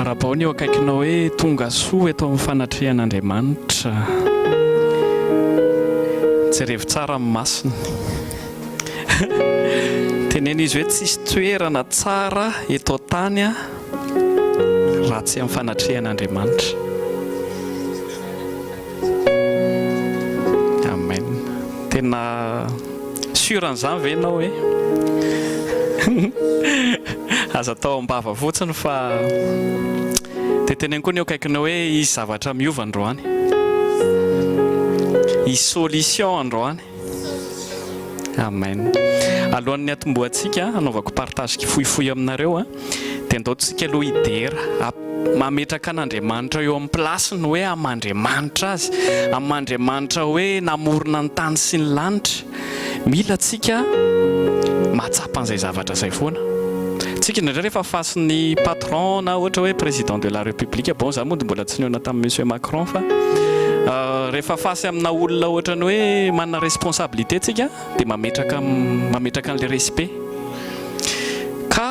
Arabaony eo akaikinao hoe tonga soa eto amin'ny fanatrehan'Andriamanitra. Jerevo tsara amin'ny masony. Teneno izy hoe tsisy toerana tsara eto an-tany raha tsy amin'ny fanatrehan'Andriamanitra. Amen. Tena sûr an'izany ve ianao hoe aza atao am-bava fotsiny fa dia teneno koa ny eo akaikinao hoe hisy zavatra miova androany. Hisy solution androany. Amen. Alohan'ny hatombohantsika hanaovako partage kifohifohy aminareo dia andaotsika aloha hidera mametraka an'Andriamanitra eo amin'ny place-ny hoe aman-driamanitra azy, aman-driamanitra hoe namorona ny tany sy ny lanitra. Mila antsika mahatsapa an'izay zavatra izay foana. Tsika indraindray rehefa face-ny patron na ohatra hoe président de la république bon za mody mbola tsy nihaona tamin'i Monsieur Macron fa rehefa face amina olona ohatran'ny hoe manana responsabilité tsika dia mametraka mametraka an'ilay respect ka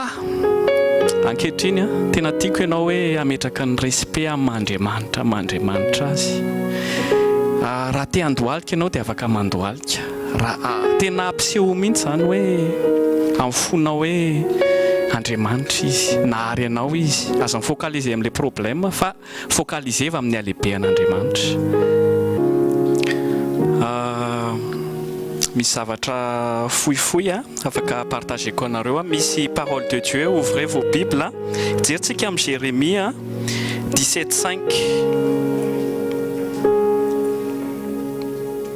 ankehitriny tena tiako ianao hoe hametraka ny respect amin'Andriamanitra amin'Andriamanitra azy ah, raha te handohalika ianao dia afaka mandohalika Raha tena ampiseho mihitsy izany hoe amin'ny fonao hoe Andriamanitra Izy, nahary anao Izy, aza mi-focaliser amin'ilay problème fa focaliser-va amin'ny halehibehan'Andriamanitra. Misy zavatra fohifohy afaka partager-ko anareo. Misy parole de Dieu, ouvrez vos bibles, jerintsika amin'i Jeremia 17 5.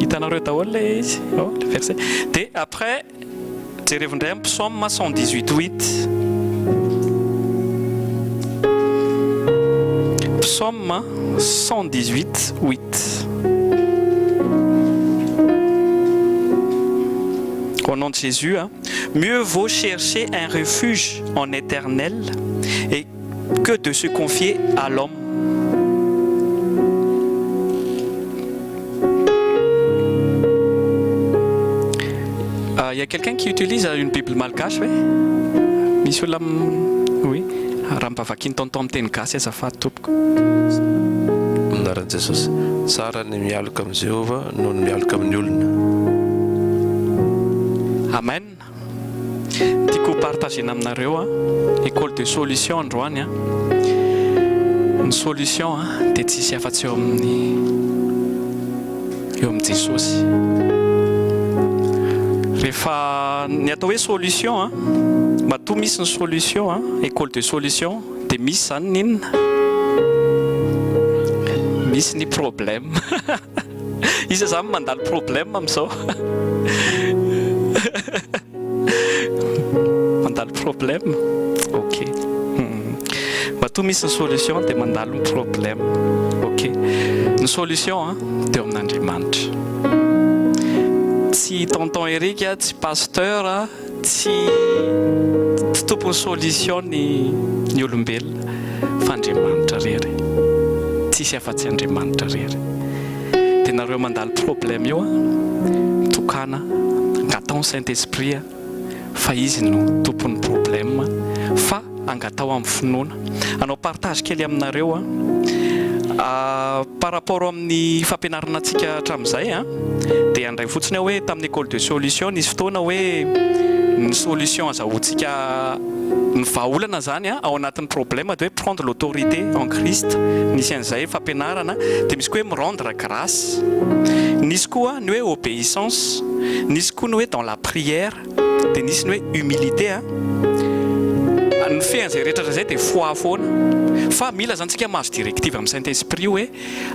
Hitanareo daholo ilay izy oh, le verset. Dia après, jerevo indray amin'ny psaume 118 8. Psaume 118 8. Au nom de Jésus, hein. mieux vaut chercher un refuge en éternel et que de se confier à l'homme. Il euh, y a quelqu'un qui utilise une Bible malgache, oui Misy olona oui raha mpavakin'ny tonton amin'ny teny gasy azafady tompoko. Anaran'i Jesosy. Tsara ny mialoka amin'i Jehovah noho ny mialoka amin'ny olona. Amen. Tiako ho partager na aminareo a, école de solution androany a, ny solution a dia tsy hisy afa-tsy eo amin'ny eo amin'i Jesosy. Rehefa ny atao hoe solution a, matoa misy ny solution a, école de solution dia misy izany ny inona? Misy ny problème. Iza zany mandalo problème amin'izao? Mandalo problème? Ok. Hmm. Matoa misy ny solution dia mandalo ny problème. Ok. Ny solution hein, ah, teo amin'Andriamanitra. Tsy tonton Eric, ah, tsy pasteur, ah, Tsy tsy tompony solution ny ny olombelona fa Andriamanitra rery. Tsisy afa-tsy Andriamanitra rery. De nareo mandalo problème io an, mitokana angatao ny Saint Esprit fa izy no tompon'ny problème fa Angataho amin'ny finoana. Hanao partage kely aminareo aho. Par rapport amin'ny fampianarana antsika hatramin'izay dia handray fotsiny aho hoe tamin'ny école de solution nisy fotoana hoe ny solution azahoantsika ny vahaolana izany ao anatin'ny problème dia hoe prendre l'autorité en Christ. Nisy an'izay fampianarana. Dia misy koa hoe mi rendre grace. Nisy koa ny hoe obéissance. Nisy koa ny hoe dans la prière. Dia nisy ny hoe humilité a. Ny fehan'izay rehetra hatrizay dia foi foana. Fa mila zany tsika mahazo directive amin'ny Saint Esprit hoe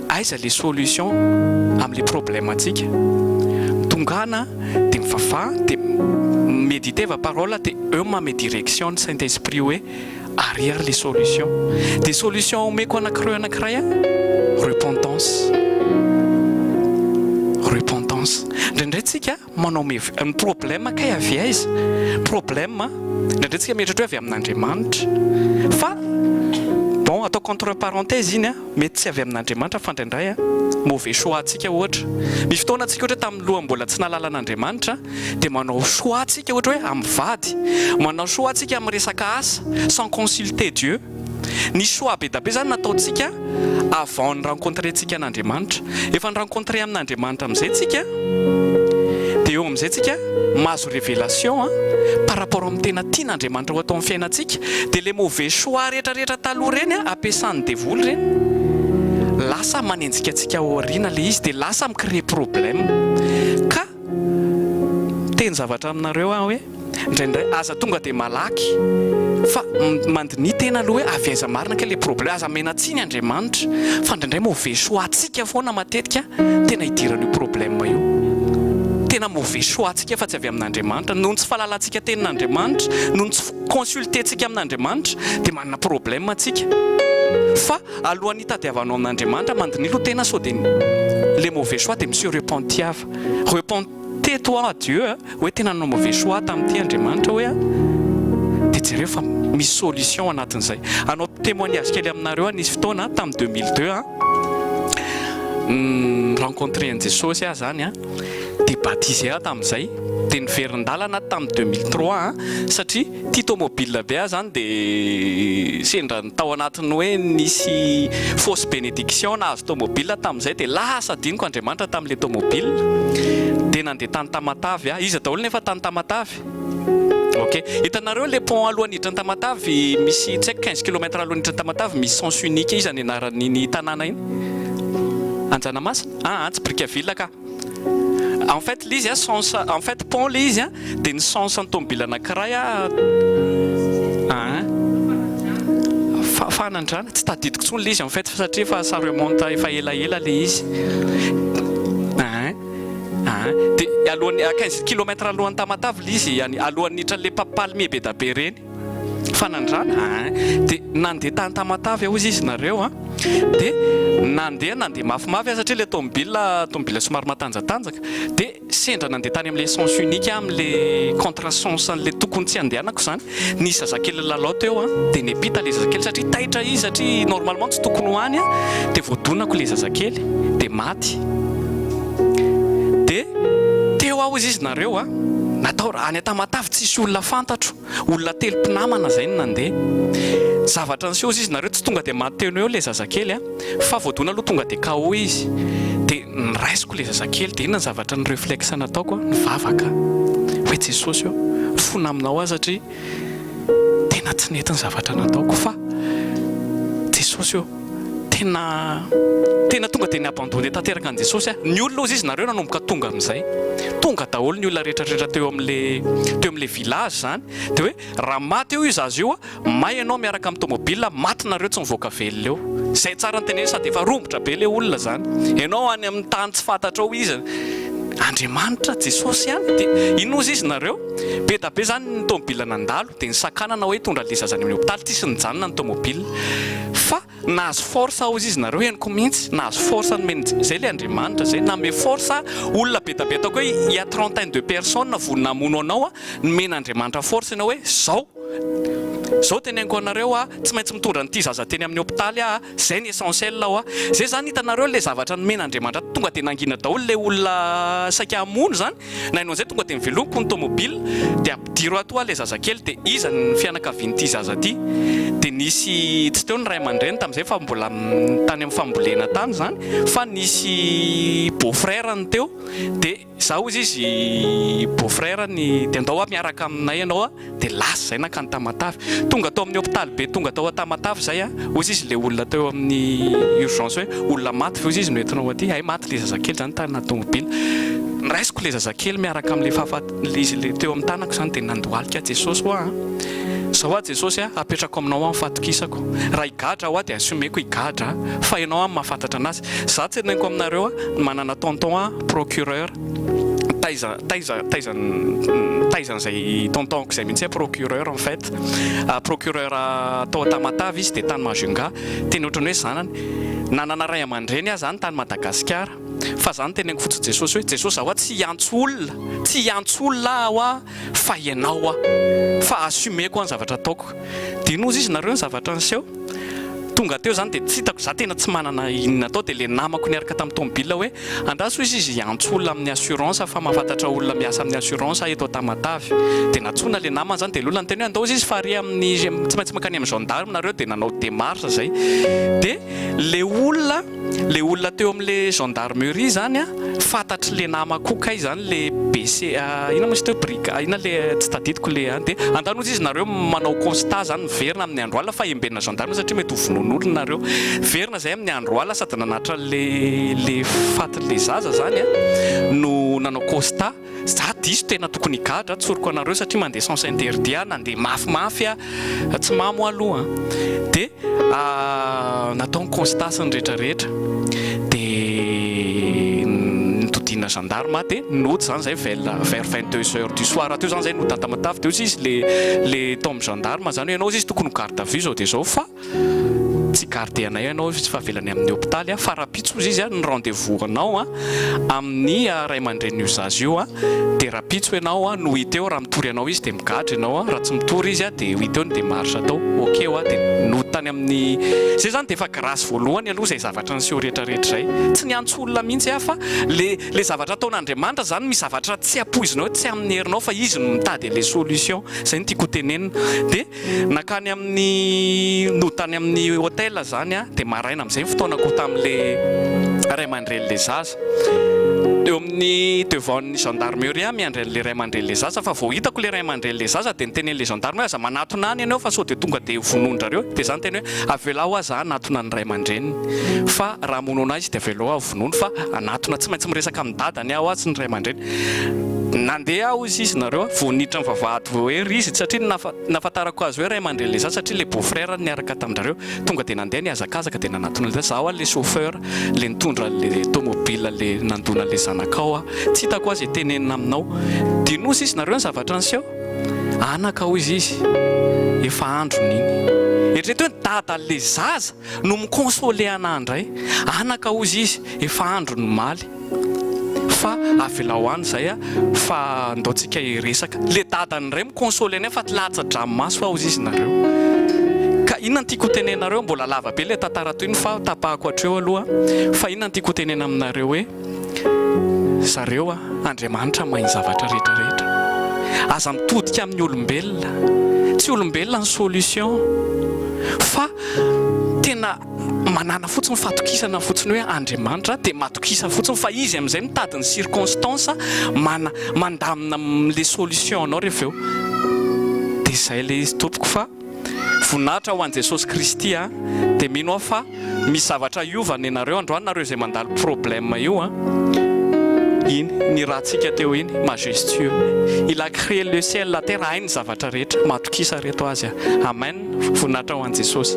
aiza le solution amin'ny le problème antsika. Tongana dia mivavaha dia mediteva parole dia eo manome direction ny Saint Esprit hoe ary ary le solution. Dia solution omeko anakireo anakiray a, repentance. Repentance. Indraindray tsika Manao mevia. Ny problème kay avy aiza? Problème a, indraindray tsika mieritreritra hoe avy amin'Andriamanitra fa bon ataoko entre parenthèse iny a, mety tsy avy amin'Andriamanitra fa indraindray a mauvais choix antsika ohatra. Misy fotoana tsika ohatra hoe tamin'ny lohany mbola tsy nahalala an'Andriamanitra dia manao choix tsika ohatra hoe amin'ny vady, manao choix tsika amin'ny resaka asa sans consulter Dieu. Ny choix be da be zany nataontsika avant ny rencontre tsika an'Andriamanitra. Efa ni-rencontrer amin'Andriamanitra amizay tsika, de eo amizay tsika mahazo révélation an, par rapport amin'ny tena tian'Andriamanitra ho atao amin'ny fiainantsika. De le mauvais choix rehetra rehetra taloha reny an, ampiasan'ny devoly reny, lasa manenjika antsika ao aoriana le izy, de lasa mi-créer problème. Ka miteny zavatra aminareo aho hoe, Indraindray aza tonga dia malaky fa mandiniha tena aloha hoe avy aiza marina kay ilay problème. Aza menatsiny Andriamanitra fa indraindray mauvais choix antsika foana matetika tena idiran'io problème io. Tena mauvais choix antsika fa tsy avy amin'Andriamanitra. Noho ny tsy fahalalantsika tenin'Andriamanitra, noho ny tsy fi-consulter-ntsika amin'Andriamanitra dia manana problème antsika. Fa alohan'ny hitadiavanao amin'Andriamanitra, mandiniha aloha tena sao dia ilay mauvais choix dia mi-se repentiava. Repent. Tais toi à Dieu a, hoe tena nanao mauvais choix aho tamin'ity Andriamanitra hoe a, dia jereo fa misy solution anatin'izay. Hanao témoignage kely aminareo aho, nisy fotoana a, tamin'ny deux mille deux a, ni-rencontrer an'i Jesosy aho izany a, dia baptisé aho tamin'izay, dia niverin-dalana aho tamin'ny deux mille trois a, satria, Ity tomobil be ahy zany dia sendra ny tao anatin'ny hoe nisy fausse bénédiction nahazo tomobil tamin'izay dia lasa adinoko Andriamanitra tamin'ilay tomobil dia nandeha tany Tamatave aho, iza daholo nefa tany Tamatave? ok, hitanareo ilay pont alohan'ny hiditra any Tamatave misy tsy haiko quinze kilomètre alohan'ny hiditra any Tamatave misy sens unique iza ny anaran'iny tanàna iny? Anjanamasina? aa tsy Brickaville kah. En fait ilay izy sens en fait pont ilay izy dia ny sens an'ny tomobile anankiray aa fahanandrana tsy tadidiko intsony ilay izy en fait satria efa ça remonte efa ela ela ilay izy aa aa dia alohan'ny à quinze kilomètre alohan'ny Tamatave ilay izy alohan'ny hiditra an'ilay palmier be dia be ireny Fanandrana hein! Dia nandeha tany Tamatave hozy izy nareo an! Dia nandeha nandeha mafimafy an! Satria ilay tomobila tomobila somary matanjatanjaka! Dia sendra nandeha tany amin'ilay sens unique amin'ilay contre sens an'ilay tokony tsy handehanako izany nisy zazakely nilalao teo an! Dia nepita ilay zazakely satria taitra izy satria normalement tsy tokony ho any an! Dia voadonako ilay zazakely dia maty. de teo aho izy izy nareo a natao raha any Tamatave tsisy olona fantatro olona telo mpinamana zay no nandeha zavatra niseho izy izy nareo tsy tonga de maty teo eo le zazakely a fa voadona aloha tonga de KO izy de niraisiko le zazakely de inona ny zavatra ny reflexe nataoko a nivavaka hoe Jesosy ô fona aminao aho satria tena tsy nety ny zavatra nataoko fa Jesosy ô, tena tena tonga dia ni-abandonner tanteraka an'i Jesosy aho. Ny olona hozy izy, nareo nanomboka tonga amin'izay, tonga daholo ny olona rehetrarehetra teo amin'le teo amin'le village izany, dia hoe raha maty eo i zaza io, may ianao miaraka amin'ny tomobile, maty nareo tsy mivoaka velona eo. Izay tsara ny teneniny sady efa romotra be ilay olona izany. Ianao any amin'ny tany tsy fantatrao iza, Andriamanitra, Jesosy ihany, dia inona hozy izy nareo? Be da be izany ny tomobila nandalo dia nisakanana hoe hitondra ilay zaza any amin'ny hopitaly, tsisy nijanona ny tomobila fa nahazo force ao izy, izy nareo henoko mihintsy nahazo force nomeny izay ilay Andriamanitra izay nanome force a, olona be da be ataoko hoe il ya trentaine de personnes vonona hamono anao a, nomen'Andriamanitra force ianao hoe izao, izao teneniko anareo a, tsy maintsy mitondra an'ity zaza teny amin'ny hopitaly aho a, izay ny essentiel ao a, izay izany hitanareo ilay zavatra nomen'Andriamanitra tonga dia nangina daholo ilay olona saika hamono izany Naino an'izay tonga dia mivelomiko ny tomobile dia ampidiro ato hoa ilay zazakely dia iza ny fianakavian'ity zaza ity? dia nisy tsy teo ny ray aman-dreny tamin'izay fa mbola tany amin'ny fambolena tany izany fa nisy beau frère ny teo dia zah hoy izy beau frère ny dia ndao hoa miaraka aminay ianao dia lasa izay nankany Tamatave, tonga tao amin'ny hopitaly be tonga tao Tamatave izay an, hozy izy ilay olona teo amin'ny urgence hoe olona maty ve hozy izy no entinao aty, hay maty ilay zazakely izany tarina tomobila, niraisiko ilay zazakely miaraka amin'ilay fahafaty, ilay izy ilay teo amin'ny tanako izany dia nandohalika Jesosy hoa an, izao hoa Jesosy an, apetrako aminao hoa ny fatokisako, raha higadra aho hoa dia assumeko higadra aho, fa ianao hoa no mahafantatra anazy, za tseneniko aminareo an, manana tonton an, procureur, taiza taiza taiza taiza an'izay tontonko izay mihitsy procureur en fait ah, procureur ah, tao Tamatave izy dia tany Majunga teny ohatran'ny hoe zanany nanana ray aman-dreny aza any tany Madagasikara fa zany teneniko fotsiny Jesosy hoe Jesosy aho tsy hiantso olona tsy hiantso olona aho fa ianao aho fa assumeko ny zavatra ataoko Dinozy izy nareo ny zavatra niseho. Tonga teo zany dia tsy hitako, za tena tsy manana inona atao dia le namako niaraka tamin'ny tomobilina hoe, andraso hoy izy izy hiantso olona amin'ny assurance fa mahafantatra olona miasa amin'ny assurance ahy eto Tamatave. Dia nantsoina le namany zany dia lolany teny hoe andao izy izy fa ary amin'ny tsy maintsy mankany amin'ny gendarme nareo dia nanao démarche zay dia le olona Le olona teo am le gendarmerie izany a, fantatry le namako koa kay izany le BC inona moa izy teo briga inona le tsy tadidiko le an, de andanozy izy nareo manao constat zany miverina amin ny andro alina fa embenina gendarmerie satria mety ho vonoin olona nareo, miverina zay amin ny andro alina sady nanatitra le le fatin le zaza zany a no nanao constat. Za diso tena tokony higadra tsoriko anareo satria mandeha sens interdit aho nandeha mafimafy aho tsy mamo aho aloha de natao ny constat sy ny retraretra de nitodiana gendarme aho de nody zany zay vers vers vingt deux heures du soir teo zany zay no date matavy de hoy izy le le tao amin'ny gendarme zany hoe ianao hoy izy tokony ho garde à vue zao de zao fa Tsy garde anay ianao izy fa avelany amin'ny hopitaly a, fa rahampitso ozy izy a ny rendez vous anao a amin'ny ray aman-drenin'io zaza io a, dia rahampitso ianao a no hita eo raha mitory anao izy dia migadra ianao a, raha tsy mitory izy a dia hita eo ny démarche atao, ok hoa, dia nody tany amin'ny zay zany dia efa grâce voalohany aloha izay zavatra niseho rehetra rehetra izay, tsy niantso olona mihitsy aho fa le le zavatra ataon'Andriamanitra zany misy zavatra tsy ampoizinao tsy amin'ny herinao fa izy no mitady an'le solution, zay no tiako ho tenenina, dia Nankany amin'ny nody tany amin'ny hotel izany aho dia maraina amin'izay ny fotoanako tamin'ilay ray aman-drenin'ilay zaza. Teo amin'ny devant ny gendarmerie aho miandry an'ilay ray aman-drenin'ilay zaza fa vao hitako ilay ray aman-drenin'ilay zaza dia niteny an'ilay gendarme hoe aza manatona any ianao fa sao dia tonga dia vonoin-dRareo dia izaho niteny hoe avelao hoa za hanatona ny ray aman-dreniny fa raha hamono anah izy dia avelao hoa vonoiny fa hanatona tsy maintsy miresaka amin'ny dadany aho hoa sy ny ray aman-dreny Nandeha aho hoy izy nareo a, vao niditra ny vavahady vao ery izy satria ny nafa, nafantarako azy hoe ray aman-dreny ilay zaza satria ilay beau frère no niaraka tamin-drareo, tonga dia nandeha nihazakazaaka dia nanatona an'ilay zaza, zaho ary ilay chauffeur ilay nitondra an'ilay tomobile ilay nandona an'ilay zanakao aho, tsy hitako aza hitenenina aminao, dinosa izy nareo ny zavatra niseho? Anaka hoy izy, efa androny iny. Eritrereto hoe ny dadan'ilay zaza! no mi-consoler anah indray, anaka hozy izy efa andro nomaly fa avelao any izay fa ndao tsika hiresaka, le dadany indray mi-consoler anay fa latsa-dranomaso hozy izy nareo, ka inona no tiako ho tenenareo, mbola lava be le tantara tohiny fa tapahako hatreo aloha, fa inona no tiako ho tenena aminareo hoe. zareo a! Andriamanitra mahay ny zavatra rehetra rehetra, aza mitodika amin'ny olombelona, tsy olombelona ny solution fa tena manana fotsiny fatokisana fotsiny hoe Andriamanitra dia matokisa fotsiny fa izy amin'izay mitady ny circonstance mana mandamina le solution anao rehefa eo dia izay le izy tompoko fa Voninahitra ho an'i Jesosy Kristy a! Dia mino aho fa misy zavatra hiova nenareo androany nareo izay mandalo problème io a! Iny ny ratsika teo iny majestueux il a cree le ciel la terre hainy ny zavatra rehetra matokisa reto azy a! Amen! Voninahitra ho an'i Jesosy.